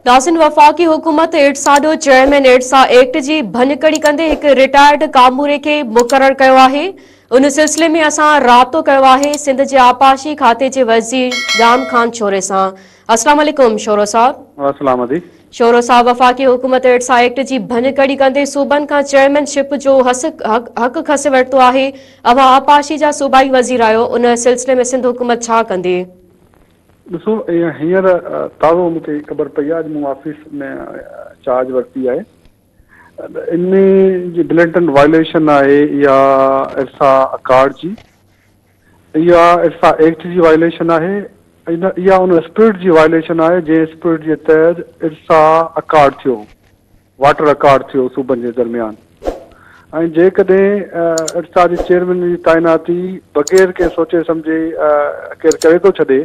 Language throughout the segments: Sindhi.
ناصر وفاقي حڪومت ايڊز آڏو چيئرمين ايڊز ايڪٽ جي ڀڃڪڙي ڪندي هڪ رٽائرڊ ڪاموري کي مقرر ڪيو آهي ان سلسلي ۾ اسان رابطو ڪيو آهي سنڌ جي آبپاشي کاتي جي وزير ڄام خان شوري سان السلام عليڪم شورو صاحب السلام عليڪم شورو صاحب وفاقي حڪومت ايڊز ايڪٽ جي ڀڃڪڙي ڪندي صوبن کان چيئرمين شپ جو حق کسي ورتو آهي اوهان آبپاشي جا صوبائي وزير آهيو ان سلسلي ۾ سنڌ حڪومت ڇا ڪندي ڏسو ايئن هينئر تازو مون کي خبر پئي آهي اڄ مون آفيس ۾ چارج ورتي آهي ان ۾ جي بلينٽن وائليشن آهي يا ارسا اڪارڊ جي يا ارسا ايڪٽ جي وائليشن آهي يا ان اسپرٽ جي وائليشن آهي جنهن اسپرٽ جي تحت ارسا اڪارڊ ٿيو واٽ رڪارڊ ٿيو صوبن جي درميان ۽ جيڪڏهن ارسا جي چيئرمين جي تعيناتي بغير ڪنهن سوچي سمجهي ڪير ڪري ٿو ڇڏي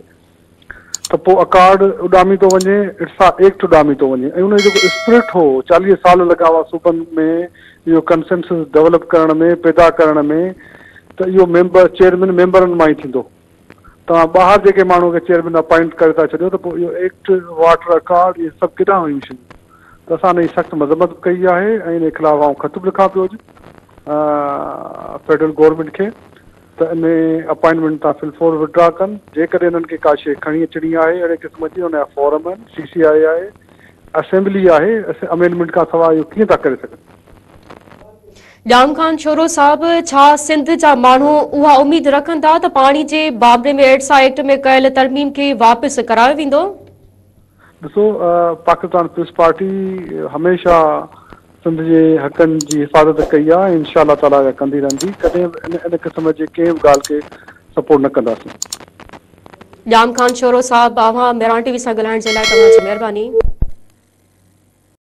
ته پوء اڪارڊ اڏامي ٿو وڃي ارسا ايڪٽ اڏامي ٿو وڃي ۽ ان جو جيڪو اسپرٽ هو چاليهه سال لڳا هئا صوبن ۾ اهو ڪنسنسس ڊولپ ڪرڻ ۾ پيدا ڪرڻ ۾ ته اهو ميمبر چيئرمين ميمبرن مان ئي ٿيندو توهان ٻاهر جيڪي ماڻهو کي چيئرمين اپائنٽ ڪري ٿا ڇڏيو ته پوء اهو ايڪٽ، واٽر اڪارڊ اهي سڀ ڪيڏانهن ويون شيون؟ ته اسان ان جي سخت مذمت به ڪئي آهي ۽ ان جي خلاف آئون خط به لکان پيو اڄ فيڊرل گورنمينٽ کي ته ان اپائنٽمينٽ تان في الفور وڊرا ڪن جيڪڏهن انهن کي ڪا شيء کڻي اچڻي آهي اهڙي قسم جي ان جا فارم آهن سي سي آء آهي اسيمبلي آهي امينڊمينٽ کان سواء اهو ڪيئن ٿا ڪري سگهن. ڄام خان شورو صاحب ڇا سنڌ جا ماڻهو اها اميد رکن ٿا ته پاڻي جي بابري ۾ ايڊسا ايڪٽ ۾ ڪيل ترميم کي واپس ڪرايو ويندو؟ ڏسو پاڪستان پيپلز پارٽي هميشه سنڌ جي حقن جي حفاظت ڪئي آ ۽ انشاء الله تعالٰي اها ڪندي رهندي ڪڏهن به ان ان قسم جي ڪنهن به ڳالهه کي سپورٽ نه ڪنداسين. ڄام خان شورو صاحب اوهان مهراڻ ٽي وي سان ڳالهائڻ جي لاء توهان جي مهرباني.